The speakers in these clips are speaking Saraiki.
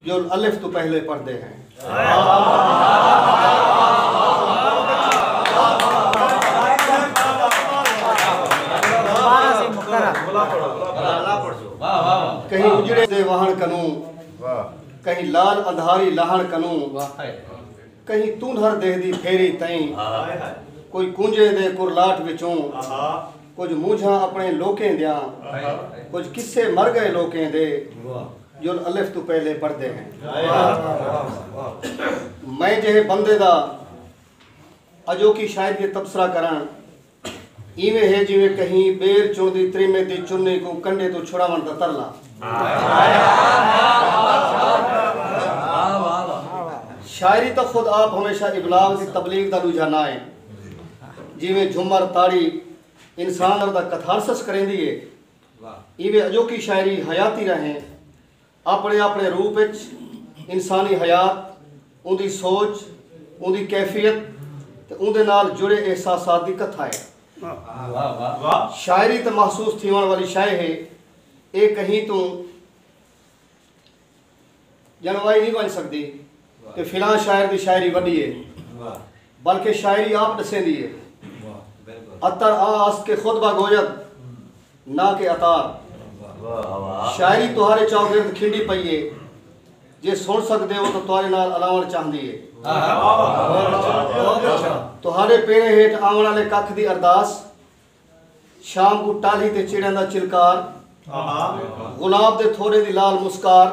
جو الف توں پہلے پڑھدے ہیں۔ کہیں اجڑے دے وہن کنوں کہیں لال اندھاری لہن کنوں کہیں تونہر دہ دی پھیری تئیں کوئی کنجے دے کرلاٹ وچوں کچھ مونجھاں اپنے لوکیں دیاں کچھ کسے مر گئے لوکیں دے جول الف توں پہلے پڑھدے ہیں میں جہے بندے دا اجو کی شاید یہ تبصرہ کران ایویں ہے جویں کہیں بیر چن دی تریمے دی چنی کو کنڈے تو چھڑا من دا ترلا شاعری تو خود آپ ہمیشہ ابلاغ دی تبلیغ دا لوجہ نہ ہے جویں جھمر تاڑی انسان دا کتھارسس کریں دیئے ایویں اڄوکی شاعری حیاتی راہیں آپݨے آپݨے روپ اچ انسانی حیات، اوندی سوچ، اوندی کیفیت تے اوندے نال جڑے احساسات دی کتھا ہے۔ شاعری تے محسوس تھیوݨ والی شئے ہے، اے کہیں توں۔ ڄݨوائی نی ونڄ سڳدی کہ فلاں شاعر دی شاعری وݙی اے بلکہ شاعری آپ ݙسیندی اے عطر آں است کہ خود با گوید ناں کہ عطار شاعری تہاݙے چاوگرد کھنڈی پئی اے جے سݨ سڳدے او تاں تہاݙے نال الاوݨ چاہندی اے تہاݙے پیریں ہیٹھ آوݨ آلے ککھ دی ارداس شام کوں ٹالی تے چڑیاں دا چلکار گلاب دے تھوڑیں دی لال مسکار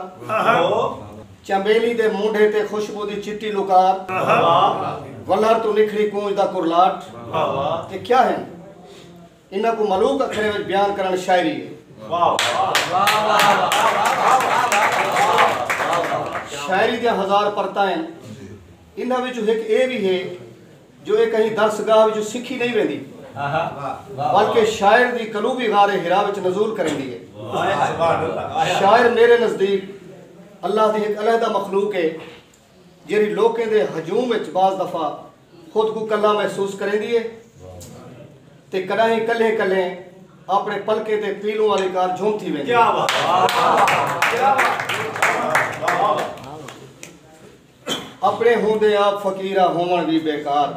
چنبیلی دے مونڈھے تے خوشبو دی چٹی لکار ولھر توں نکھڑی کونج دا کرلاٹ تے کیا ہن انہاں کوں ملوک اکھریں وچ بیان کرݨ شاعری ہے شاعری دیاں ہزار پرتاں ہن انہاں وچوں ہک ایہ وی ہے جو ایہ کہیں درس گاہ وچوں سکھی نئیں ویندی بلکہ شاعر دی قلوبی غار حرا وچ نزول کریندی ہے۔ شاعر میرے نزدیک اللہ دی ہک علیحدہ مخلوق ہے جیہڑی لوکیں دے ہجوم وچ بعض دفعہ خود کوں کلھا محسوس کریندی ہے تے کݙاہیں کلھیں کلھیں اپݨے پلکیں تے پیلوں آلی کار جھوم تھی ویندی ہے۔ اپݨے ہوندے آپ فقیراں ہووݨ وی بیکار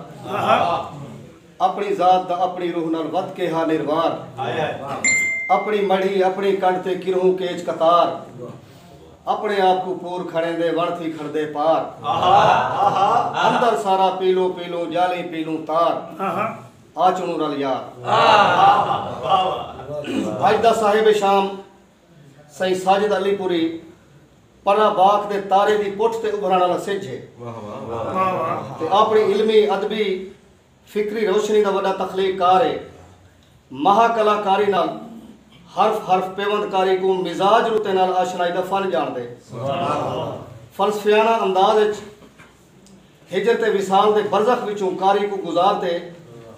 اپݨی ذات دا اپݨی روح نال ودھ کے ہا نروار اپݨی مڑھی اپݨی کنڈھ تے کرہوں کیچ قطار اپݨے آپ کوں پور کھڑیندے وݨ تھی کھڑدے پار اندر سارا پیلوں پیلوں ڄالیں پیلوں تار آچنوں رل یار اڄ دا صاحب شام سئیں ساجد علی پوری پناہ باغ دے تارے دی پٹھ تے ابھرݨ آلا سجھ ہے تے آپݨی علمی، ادبی، فکری روشنی دا وݙا تخلیق کار ہے۔ مہا کلا کاری نال حرف حرف پیوند کاری کوں مزاج رتے نال آشنائی دا فن ڄاݨدے۔ فلسفیانہ انداز اچ۔ ہجر تے وصال دے برزخ وچوں قاری کوں گزار تے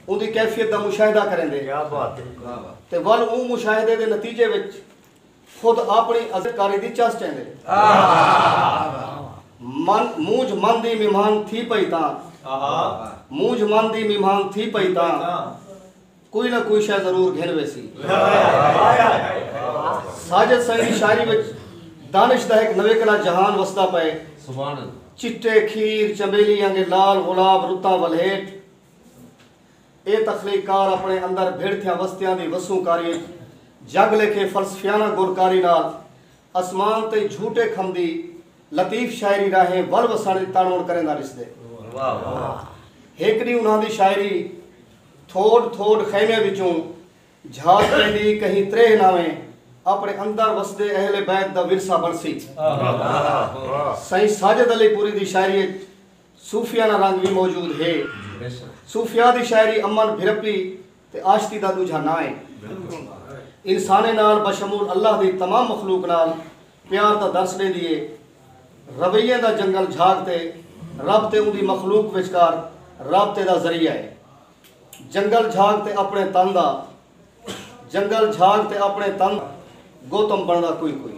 اوندی کیفیت دا مشاہدہ کریندے تے ول اوں مشاہدے دے نتیجے وچ خود آپنڑی عظیم قاری دی چس چیندے۔ من مونجھ من دی مہمان تھی پئی تاں۔ مونجھ من دی مہمان تھی پئی تاں۔ کوئی نہ کوئی شے ضرور گھن ویسی۔ ساجد سائیں دی شاعری وچ دانش دا ہک نویکڑا جہان وسدا پئے۔ چٹے کھیر، چنبیلی آنگے لال غلاب رتاں ولھیٹ اے تخلیق کار اپنڑے اندر بھڑ تھیاں وستیاں دی وسوں کاری اچ جگ لیکھے فلسفیانہ گل کاری نال اسمان تئیں جھوٹے کھمدی لطیف شاعری راہیں ول وسنڑ دی تنڑ ونڑ کریندا ڈسدے۔ ہک ڈینہہ انہاں دی شاعری۔ تھوڈ تھوڈ خیمیاں وچوں جھاگ پیندی کہیں تریہہ ناویں اپنے اندر وسدے اہل بیت دا ورثہ بنسی۔ سئیں ساجد علی پوری دی شاعری اچ صوفیانہ رنگ وی موجود ہے۔ صوفیاء دی شاعری امن بھرپی تے آشتی دا ڈوجھا ناں ہے۔ انسانیں نال بشمول اللہ دی تمام مخلوق نال پیار دا درس ݙیندی ہے۔ رویے دا جنگل جھاگ تے رب تے اوندی مخلوق وچکار رابطے دا ذریعہ ہے۔ جنگل جھاگ تے اپݨے تن دا جنگل جھاگ تے اپݨے تن دا گوتم بݨدا کوئی کوئی۔